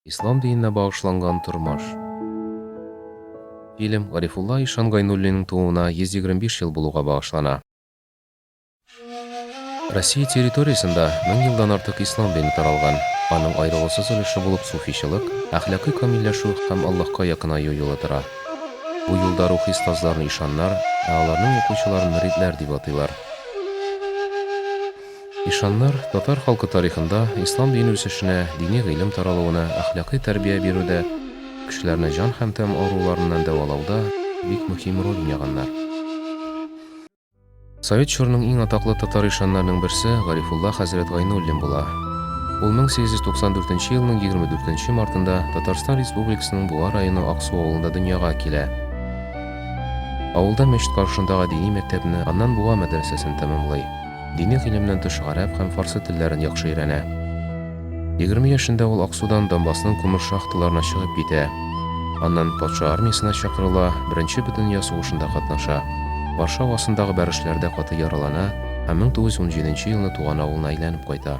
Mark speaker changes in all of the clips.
Speaker 1: Ислам диненә багышланган тормыш. Фильм Гарифулла ишан Гайнуллинның тууына 125 ел булуга багышлана. Россия территориясендә мең елдан артык ислам дине таралган. Аның аерылгысыз өлеше булып суфичылык, әхлакый камилләшү һәм Аллаһка якынаю юлы тора. Бу юлда рухи остазларны ишаннар, ә аларның укучыларын мөридләр дип атыйлар. Ишаннар татар халкы тарихында ислам дине үсешенә, дини гыйлем таралуына, әхлакый тәрбия бирүдә, кешеләрне җан һәм тәм авыруларыннан дәвалауда бик мөһим роль уйнаганнар. Совет чорының иң атаклы татар ишаннарының берсе Гарифулла хәзрәт Гайнуллин була. Ул 1894 елның 24 мартында Татарстан Республикасының Буа районы Аксу авылында дөньяга килә. Авылда мәчет каршындагы дини мәктәпне, аннан Буа мәдрәсәсен тәмамлый. Дини гыйлемнән тыш гарәп һәм фарсы телләрен яхшы өйрәнә. Егерме яшендә ул Аксудан Донбассның күмер шахталарына чыгып китә. Аннан патша армиясенә чакырыла, Беренче бөтендөнья сугышында катнаша. Варшава астындагы бәрешләрдә каты яралана һәм 1917 елны туган авылына әйләнеп кайта.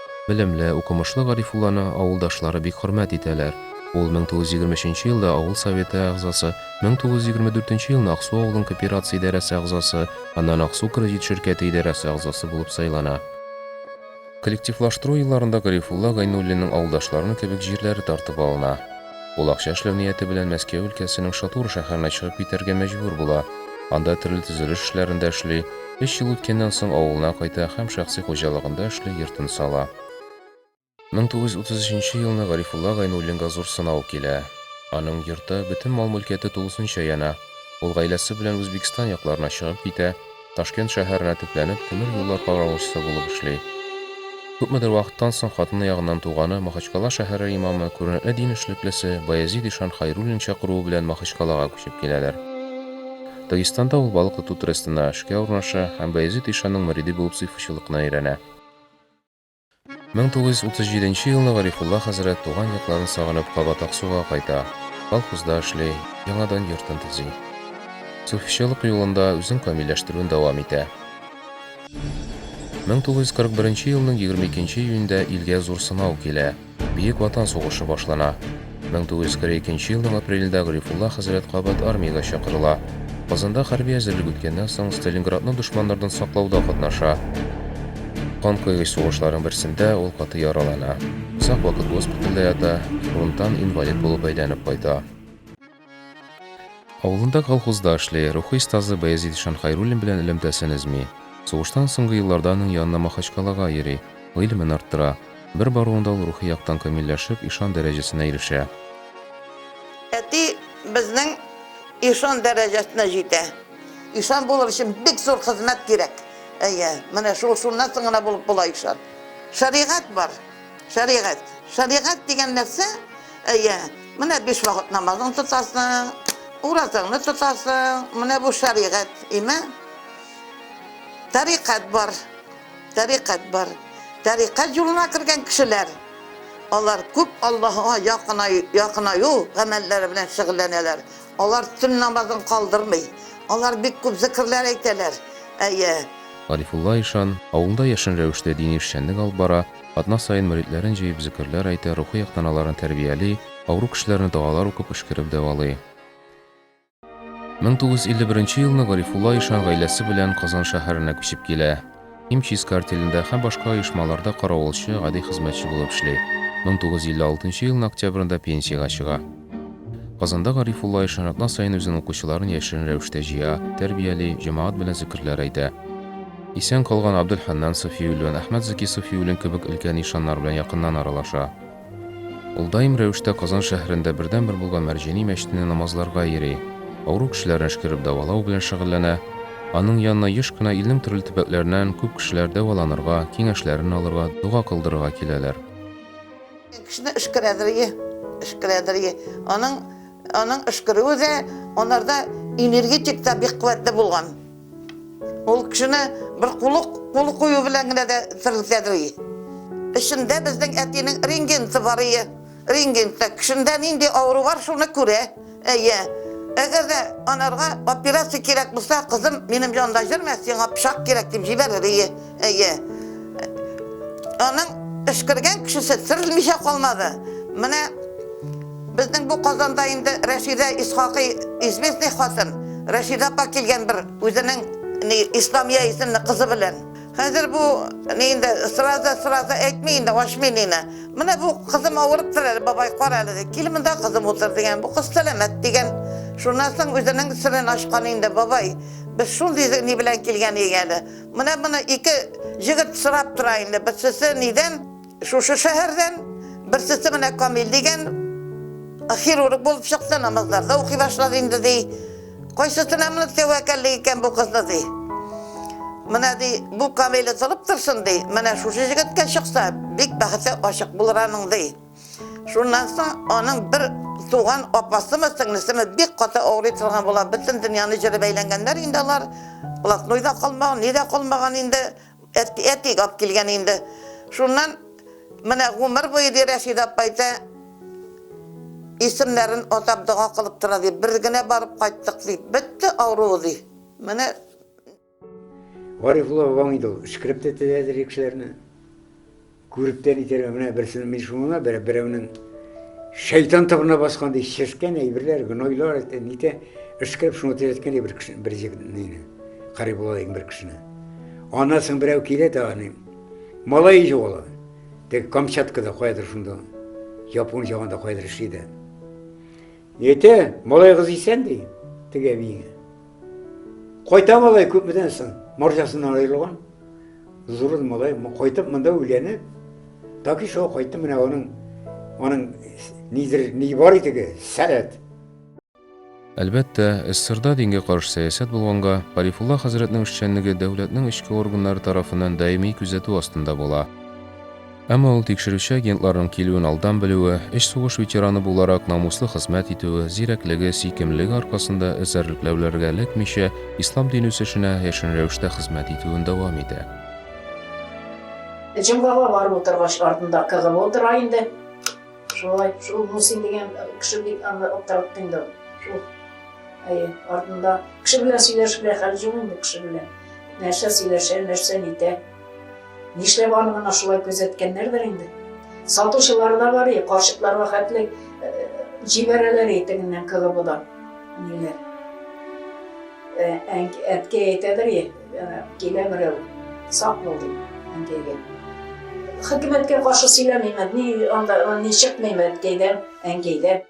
Speaker 1: Белемле, укымышлы Гарифулланы авылдашлары бик хөрмәт итәләр. Ул 1923 елда авыл Советы әгъзасы, 1924 елны Аксу авылын кооперация идарәсе әгъзасы, аннан Аксу кредит ширкәте идарәсе әгъзасы булып сайлана. Коллективлаштыру елларында Гарифулла Гайнуллинның авылдашларының кебек җирләре тартып алына. Ул акча эшләү нияте белән Мәскәү өлкәсенең Шатура шәһәренә чыгып китәргә мәҗбүр була, анда төрле төзелеш эшләрендә эшли, өч ел үткәннән соң авылына кайта һәм шәхси хуҗалыгында эшли йортын сала. 1933 елны Гарифулла Гайнуллинга зур сынау килә. Аның йорты, бөтен мал-мөлкәте тулысынча яна. Ул гаиләсе белән Үзбекстан якларына чыгып китә. Ташкент шәһәренә төпләнеп, тимер юллар каравылчысы булып эшли. Күпмедер вакыттан соң хатыны ягыннан туганы, Махачкала шәһәре имамы, күренекле дин эшлеклесе Баязид ишан Хайруллин чакыруы белән Махачкалага күчеп киләләр. Дагестанда ул балык тоту трестына эшкә урнаша һәм Баязид ишанның мөриде булып сыйфачылыкны өйрәнә. 1937 елны Гарифулла хәзрәт туган якларын сагынып кабат Аксуга кайта, колхозда эшли, яңадан йортын төзи. Суфичылык юлында үзен камилләштерүен дәвам итә. 1941 елның 22 июнендә илгә зур сынау килә. Бөек Ватан сугышы башлана. 1942 елның апрелендә Гарифулла хәзрәт кабат армиягә чакырыла. Казанда хәрби әзерлек үткәннән соң, Сталинградны дошманнардан саклауда катнаша. Кан койгыч сугышларның берсендә ул каты яралана. Озак вакыт госпитальдә ята, фронттан инвалид булып әйләнеп кайта. Авылында колхозда эшли, рухи остазы Баязит ишан Хәйруллин белән элемтәсен өзми. Сугыштан соңгы елларда аның янына Махачкалага йөри, гыйлемен арттыра. Бер баруында ул рухи яктан камилләшеп, ишан дәрәҗәсенә ирешә.
Speaker 2: Әти безнең ишан дәрәҗәсенә җитә. Ишан булыр өчен бик зур хезмәт кирәк. Әйе, менә шул, шуннан соң гына булып була ишан. Шәригать бар. Шәригать. Шәригать дигән нәрсә, әйе, менә биш вакыт намазын тотасың, уразаңны тотасың, менә бу шәригать, име? Тарикат бар. Тарикат бар. Тарикат юлына кергән кешеләр, алар күп Аллаһыга якынаю, якынаю гамәлләре белән шөгыльләнәләр. Алар төн намазын калдырмый. Алар бик күп зекерләр әйтәләр. Әйе.
Speaker 1: Гарифулла ишан, авылында яшен рәвештә дини эшчәнлек алып бара, атна саен мөридләрен җыеп зекерләр әйтә, рухи яктан аларны тәрбияли, авыру кешеләрне догалар укып өшкереп дәвалый. Мең тугыз йөз илле беренче елны Гарифулла ишан гаиләсе белән Казан шәһәренә күчеп килә. Химчистка артелендә һәм башка оешмаларда каравылчы, гади хезмәтче булып эшли. 1956 елның октябрендә пенсиягә чыга. Казанда Гарифулла Ишан атна саен үзен укучыларын яшерен рәвештә җыя, тәрбияли, җәмәгать белән зикерләр әйтә. Исән калган Абделханнан Сафиуллин, Әхмәт Заки Сафиуллин кебек өлкән ишаннар белән якыннан аралаша. Ул даим рәвештә Казан шәһәрендә бердәнбер булган Мәрҗани мәчетенә намазларга йөри, авыру кешеләрне эшкәреп дәвалау белән шөгыльләнә. Аның янына еш кына илнең төрле төбәкләреннән күп кешеләр дәваланырга, киңәшләрен алырга, дога кылдырырга киләләр.
Speaker 2: Кешене эшкәрәдерие, эшкәрәдерие. Аның, аның эшкәрүе дә анарда энергетик та бик куәтле булган. Ул кешене бер кулык кул кую белән генә дә терелтәдер. Эчендә безнең әтинең рингенты бар ие. Рингенты кешендә нинди авыру бар, шуны күрә. Әйе. Әгәр дә анарга операция кирәк булса, кызым, минем янда йөрмә, сиңа пычак кирәк дип җибәрер ие. Әйе. Аның эшкергән кешесе сырылмыйча калмады. Менә безнең бу Казанда инде Рәшидә Исхакый известный хатын. Рәшидә апа килгән бер үзенең ни Исламия исемле кызы белән. Хәзер бу ни инде сразу сразу әйтми инде ашмый нина. Менә бу кызым авырып тора әле бабай кара әле. Кил монда кызым утыр дигән. Бу кыз сәламәт дигән. Шуннан соң үзенең сырын ашкан инде бабай. Без шундый ни белән килгән иде әле. Менә моны ике җегет сорап тора инде. Берсесе нидән? Шушы шәһәрдән. Берсесе менә Камил дигән хирург булып чыкты, намазларда укый башлады инде ди. Кайсысына менә тәвәккәллек икән бу кызны ди. Менә ди, бу Камиле тылып торсын ди. Менә шушы җегеткә чыкса, бик бәхете ачык булыр аның ди. Шуннан соң аның бер туган апасымы, сеңлесеме бик каты авырый торган була. Бөтен дөньяны җырып әйләнгәннәр инде алар. Блатной да калмаган, ни дә калмаган инде. Әти, әти алып килгән инде. Шуннан менә гомер буе ди Рәшидә апа әйтә, исемнәрен атап дога кылып тора ди. Бер генә барып кайттык ди. Бетте авыруы ди. Менә Гарифулла
Speaker 3: бабаң инде ул өшкереп тә теләде кешеләрне. Күреп тә нитәргә менә берсен мин шуңа бер берәүнең шайтан табына баскан ди ческән әйберләр, гнойлар әйтә, нитә өшкереп шуны теләткән бер кеше бер җигне. Гарифулла дигән бер кешене. Аннан соң берәү килә дә аны малай җуала. Тек Камчаткада каядыр шунда. Япон җагында каядыр эшли дә. Ете, малайыгыз исән, ди теге әбиеңә. Кайта малай күпмедән соң, марҗасыннан аерылган. Зур малай кайтып монда өйләнеп, таки шул кайтты менә аның аның нидер ни бар идеге, сәләт. Әлбәттә,
Speaker 1: СССРда дингә каршы сәясәт булганга, Гарифулла хәзрәтнең эшчәнлеге дәүләтнең эчке органнары тарафыннан даими күзәтү астында була. Әмма ул тикшерүче агентларның килүен алдан белүе, өч сугыш ветераны буларак намуслы хезмәт итүе, зирәклеге, сөйкемлелеге аркасында эзәрлекләүләргә эләкмичә, ислам дин үсешенә яшерен рәвештә хезмәт итүен дәвам итә.
Speaker 4: Җомгага барып утыргач, артында КГО утыра инде. Шулай, шул Мусин дигән кеше бик аны аптыратты инде. Шул, әйе, артында. Кеше белән сөйләшергә хәл юк инде, кеше белән. Нәрсә сөйләшә, нәрсә нитә. Нишләп аны мына шулай күзәткәннәрдер инде. Сатучылар да бар, карчыкларга хәтле җибәрәләр итегеннән кылыбыдан. Ниләр? Әткә әйтәдер, килә берәү, сак бул дип, әнкәйгә. Хөкүмәткә каршы сөйләмим, ни анда, ни чыкмыйм әткәйдән, әнкәйдән.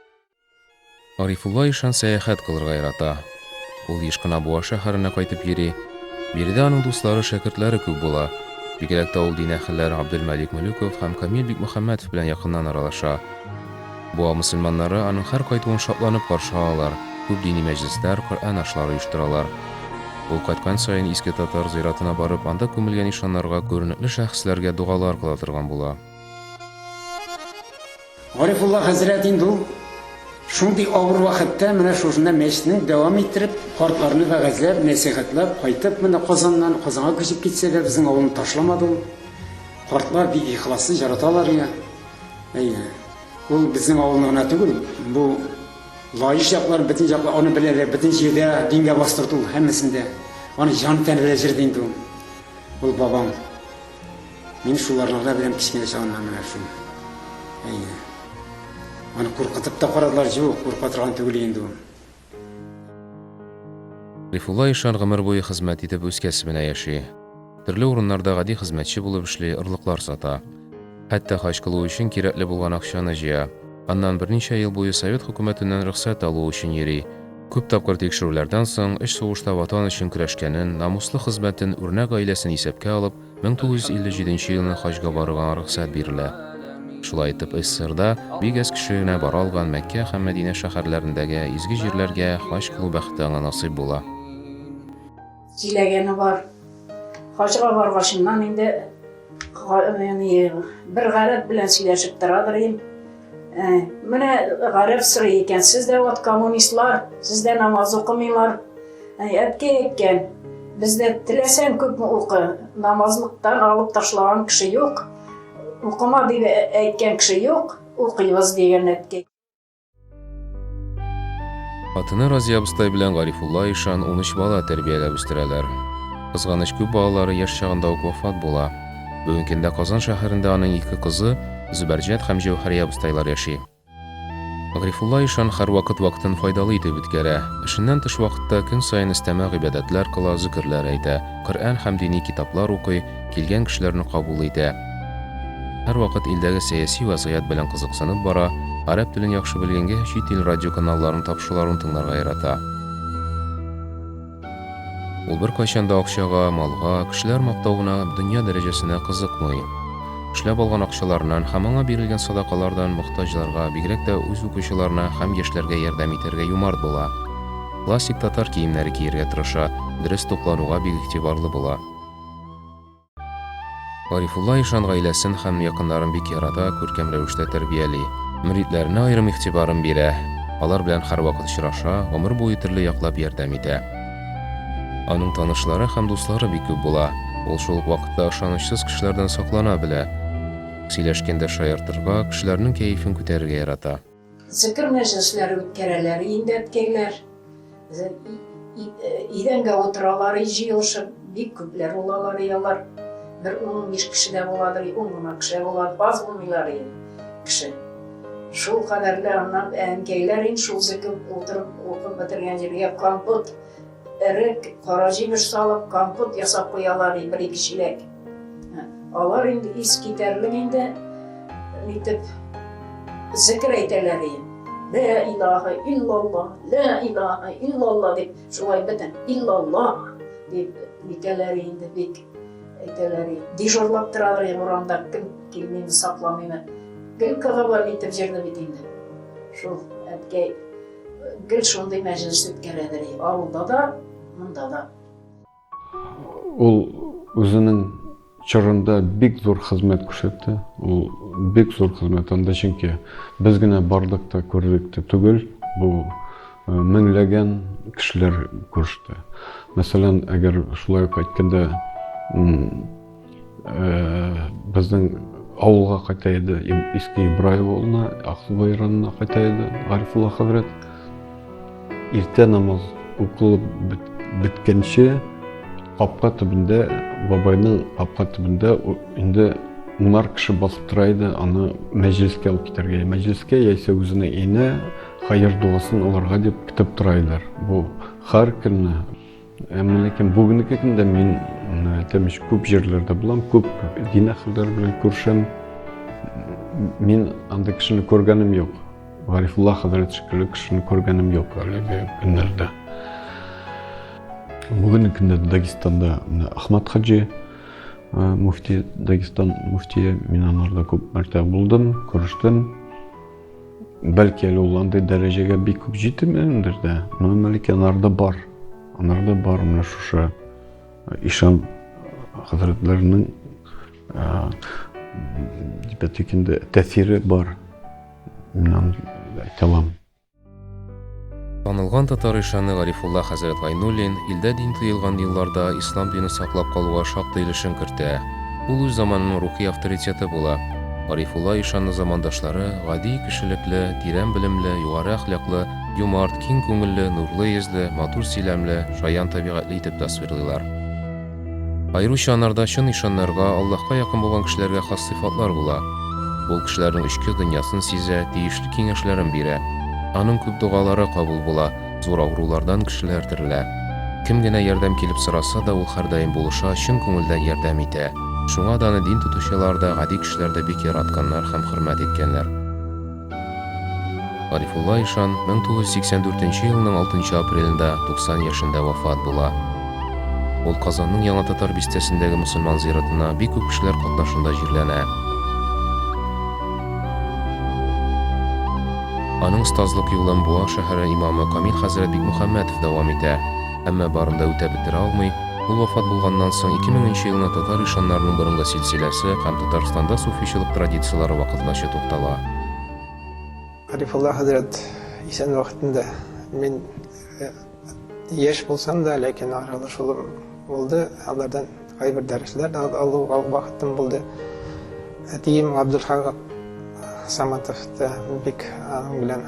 Speaker 1: Гарифулла ишан сәяхәт кылырга ярата. Ул еш кына Буа шәһәренә кайтып йөри. Биредә аның дуслары, шәкертләре күп була. Бигрәк тә ул дин әһелләре Абделмәлик Мөлеков һәм Камил Бикмөхәммәтов белән якыннан аралаша. Буа мөселманнары аның һәр кайтуын шатланып каршы алалар, күп дини мәҗлесләр, Коръән ашлары оештыралар. Ул кайткан саен Иске Татар зыяратына барып, анда күмелгән ишаннарга, күренекле шәхесләргә догалар кыла торган була.
Speaker 3: Гарифулла хәзрәт инде ул шундый авыр вакытта менә шушында мәчетне дәвам иттереп, картларны вәгазьләп, нәсыйхәтләп, кайтып менә Казаннан, Казанга күчеп китсә дә, безнең авылны ташламады ул. Картлар бик ихласлы, яраталар ия. Әйе. Ул безнең авылны гына түгел, бу Лаеш яклар бөтен яклар аны беләләр, бөтен җирдә дингә бастырды ул һәммәсендә. Аны җан тәне белән җырлый инде ул. Ул бабам. Мин шуларныкда белән кечкенә чагымнан менә шул. Әйе. Аны куркытып та карадылар, җук, курка торган түгел инде
Speaker 1: ул. Рифулла ишан гомер буе хезмәт итеп үз кәсебенә яши. Төрле урыннарда гади хезмәтче булып эшли, орлыклар сата. Хәтта хаҗ кылу өчен кирәкле булган акчаны җыя. Аннан берничә ел буе совет хөкүмәтеннән рөхсәт алу өчен йөри. Күп тапкыр тикшерүләрдән соң, өч сугышта Ватан өчен көрәшкәнен, намуслы хезмәтен, үрнәк гаиләсен исәпкә алып, 1957 елны хаҗга барырга рөхсәт бирелә. Шулай итеп, СССРда бик әз кеше генә бара алган Мәккә һәм Мәдинә шәһәрләрендәге изге җирләргә хаҗ кылу бәхете аңа насыйп була. Сөйләгәне
Speaker 4: бар. Хаҗга баргачыннан инде бер гарәп белән сөйләшеп торадыр идем. Ә, менә гарәп сорый икән, сез дә вот коммунистлар, сез дә намаз укымыйлар. Ә, әтке әйткән, бездә теләсәң күп укы, намазлыктан алып ташлаган кеше юк, укыма дип әйткән кеше юк, укыйбыз дигән әтке. Хатыны
Speaker 1: Разия абыстай белән Гарифулла ишан 13 бала тәрбияләп үстерәләр. Кызганыч күп балалары яшь чагында ук вафат була. Бүгенге көндә Казан шәһәрендә аның ике кызы, Зөбәрҗәт һәм Җәүһәрия абыстайлар яши. Грифулла ишан һәрвакыт вакытын файдалы итеп үткәрә. Эшеннән тыш вакытта көн саен өстәмә гыйбадәтләр кыла, зөкерләр әйтә, Коръән һәм дини китаплар укый, килгән кешеләрне кабул итә. Һәрвакыт илдәге сәяси вәзгыять белән кызыксынып бара, гарәп телен яхшы белгәнгә, чит ил радиоканалларын тапшыруларын тыңларга ярата. Ул беркайчан да акчага, малга, кешеләр мактавына, дөнья дәрәҗәсенә кызыкмый. Эшләп алган акчаларыннан һәм аңа бирелгән садакалардан мохтаҗларга, бигрәк тә үз укучыларына һәм яшьләргә ярдәм итәргә юмарт була. Классик татар киемнәре кияргә тырыша, дөрес туклануга бик игътибарлы була. Гарифулла ишан гаиләсен һәм якыннарын бик ярата, күркәм рәвештә тәрбияли. Мөридләренә аерым игътибарын бирә, алар белән һәрвакыт очраша, гомер буе төрле яклап ярдәм итә. Аның танышлары һәм дуслары бик күп була, ул шул ук вакытта ышанычсыз кешеләрдән саклана белә. Сөйләшкәндә шаяртырга, кешеләрнең кәефен күтәрергә ярата. Зекер
Speaker 4: мәҗлесләре үткәрәләр, инде әткәйләр идәнгә утыралар, җыелышып, бик күпләр булалар, и алар бер ун-унбиш кеше дә буладыр, и ун гына кеше була, аз булмыйлар и кеше. Шул кадәрле аннан әнкәйләр ин шул зекер утырып, укып бетергән җиргә компот Эрек, кара җимеш салып, компот ясап куялар, ди, бер-ике чиләк. Алар инде ис китәрлек инде, нитеп, зекер әйтәләр, ди. Лә илаһа иллаллах, лә илаһа иллаллах дип, шулай бөтен иллаллах дип нитәләр инде бик әйтәләр. Дежурлап торалар инде урамда, кем килмиме, сакламыймы. Гел кагабар итеп җырны бит инде. Шул әткәй Гел шундый мәҗлес үткәрәдер и
Speaker 5: авылда да, монда да. Ул үзенең чорында бик зур хезмәт күрсәтте. Ул бик зур хезмәт анда чөнки без генә бардык та күрдек тә түгел, бу э, меңләгән кешеләр күреште. Мәсәлән, әгәр шулай ук әйткәндә Безнең авылга кайта иде, Иске Ибраев авылына, Аксубай районына кайта иде Гарифулла хәзрәт. Иртә намаз укылып беткәнче капка төбендә, бабайның капка төбендә инде унар кеше басып тора иде аны мәҗлескә алып китәргә мәҗлескә яисә үзенә инә хәер догасын алырга дип көтеп тора иделәр бу һәр көнне Әмма ләкин бүгенге көндә мин тәмеш күп җирләрдә булам, күп дин әһелләре белән күрешәм. Мин анда кешене күргәнем юк. Гарифулла хәзрәт шикелле кешене күргәнем юк әлеге көннәрдә. Бүгенге көндә Дагестанда Ахмад хаҗи муфти, Дагестан муфтие, мин анарда күп мәртәбә булдым, күрештем. Бәлки әле ул андый дәрәҗәгә бик күп җитмәгәндер дә. Моны Мәликә анарда бар. Анарда бар менә шушы э, ишан хәзрәтләренең э, дипәтик инде тәсире бар. Мин аны әйтә аламын.
Speaker 1: Танылган татар ишаны Гарифулла хәзрәт Гайнуллин илдә дин тыелган елларда ислам динен саклап калуга шактый өлешен кертә. Ул үз заманының рухи авторитеты була. Гарифулла ишанны замандашлары гади, кешелекле, тирән белемле, югары әхлаклы, юмарт, киң күңелле, нурлы йөзле, матур сөйләмле, шаян табигатьле итеп тасвирлыйлар. Аеруча анарда чын ишаннарга, Аллаһка якын булган кешеләргә хас сыйфатлар була. Ул кешеләрнең эчке дөньясын сизә, тиешле киңәшләрен бирә. Аның күп догалары кабул була, зур авырулардан кешеләр терелә. Кем генә ярдәм килеп сораса да, ул һәрдаим булыша, чын күңелдән ярдәм итә. Шуңа да аны дин тотучылар да, гади кешеләр дә бик яратканнар һәм хөрмәт иткәннәр. Гарифулла ишан 1984 елның 6 апрелендә 90 яшендә вафат була. Ул Казанның Яңа Татар бистәсендәге мөселман зиратына бик күп кешеләр катнашында җирләнә. Аның остазлык юлын Буа шәһәре имамы Камил хәзрәт Бикмөхәммәтов дәвам итә. Әмма барын да үтәп бетерә алмый, ул вафат булганнан соң, 2000 нче елны татар ишаннарының борынгы силсиләсе һәм Татарстанда суфичылык традицияләре вакытлача туктала.
Speaker 6: Гарифулла хәзрәт исән вакытында, мин яшь булсам да, ләкин аралашуым булды алардан. Кайбер дәресләр дә алуга вакытым булды. Әтием Габдулхак Саматов та бик аның белән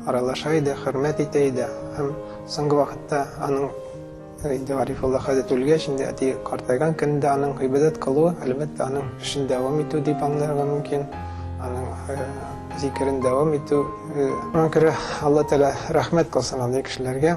Speaker 6: аралаша иде, хөрмәт итә иде. Һәм соңгы вакытта аның инде Гарифулла хәзрәт үлгәч, инде әти картайган көндә аның гыйбадәт кылуы, әлбәттә, аның эшен дәвам итү дип аңларга мөмкин. Аның э, зикерен дәвам итү. Э, Шуңа күрә Алла Тәгалә рәхмәт кылсын андый кешеләргә.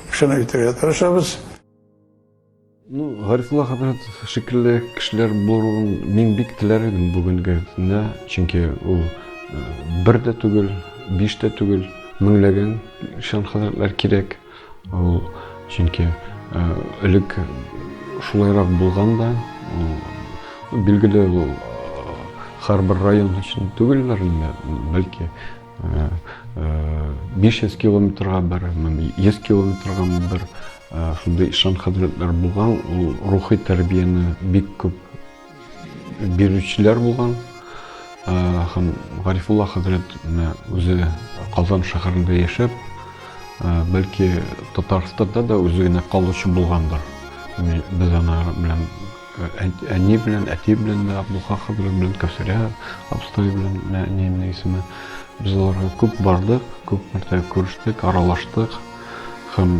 Speaker 7: Шуны үтерергә тырышабыз. Ну,
Speaker 5: Гарифулла хәзрәт шикелле кешеләр булуын мин бик теләр идем бүгенге көндә, чөнки ул бер дә түгел, биш тә түгел, меңләгән шән хәзрәтләр кирәк. Ул чөнки элек шулайрак булган да, билгеле, ул һәрбер район өчен түгелләр инде, бәлки беш йөз километрга бер йөз километрга бер шундай ишан хәзрәтләр булган ул рухи тәрбияне бик күп бирүчеләр булган һәм гарифулла хәзрәт үзе казан шәһәрендә яшәп бәлки татарстанда да үзе генә калучы булгандыр без ана белән Әни белән әти белән дә, Абдулха хәзрәт белән Кәүсәрә абыстай белән, әниемнең исеме. Без аларга күп бардык, күп мәртәбә күрештек, аралаштык. Һәм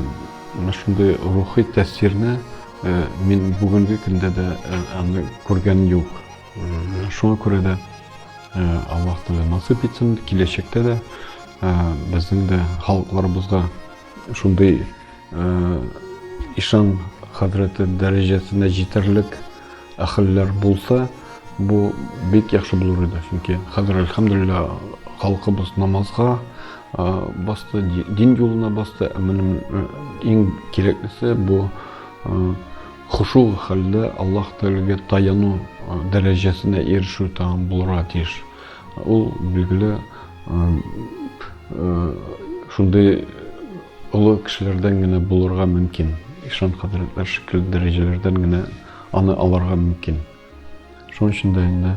Speaker 5: менә шундый рухи тәэсирне э, мин бүгенге көндә дә э, аны күргән юк. Шуңа күрә дә э, Аллаһ Тәгалә насыйп итсен, киләчәктә дә безнең дә халыкларыбызда Шундый ишан хәзрәте дәрәҗәсенә җитәрлек әхелләр булса, бу бик яхшы булыр иде. Чөнки хәзер әлхәмдулилла халкыбыз намазга басты, дин юлына басты. Ә минем иң кирәклесе бу хушу хәлдә Аллаһ Тәгаләгә таяну дәрәҗәсенә ирешү тагын булырга тиеш. Ул, билгеле, шундый олы кешеләрдән генә булырга мөмкин. Ишан хәзрәтләр шикелле дәрәҗәләрдән генә аны алырга мөмкин. Шуның өчен дә инде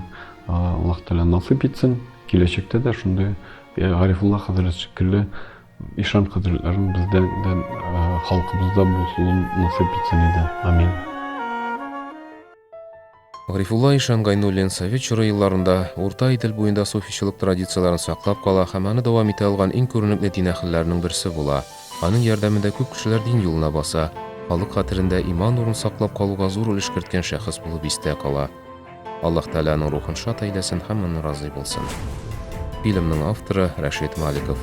Speaker 5: Аллаһ Тәгалә насыйп итсен, киләчәктә дә шундый Гарифулла хәзрәт шикелле ишан хәзрәтләрен бездә дә халкыбызда булуын насыйп итсен иде. Амин.
Speaker 1: Гарифулла ишан Гайнуллин совет чоры елларында Урта Идел буенда суфичылык традицияләрен саклап кала һәм аны дәвам итә алган иң күренекле дин әһелләренең берсе була. Аның ярдәмендә күп кешеләр дин юлына баса, халык хәтерендә иман нурын саклап калуга зур өлеш керткән шәхес булып истә кала. Аллаһ Тәгаләнең рухын шат әйләсен һәм моннан разый булсын. Фильмның авторы Рәшит Маликов.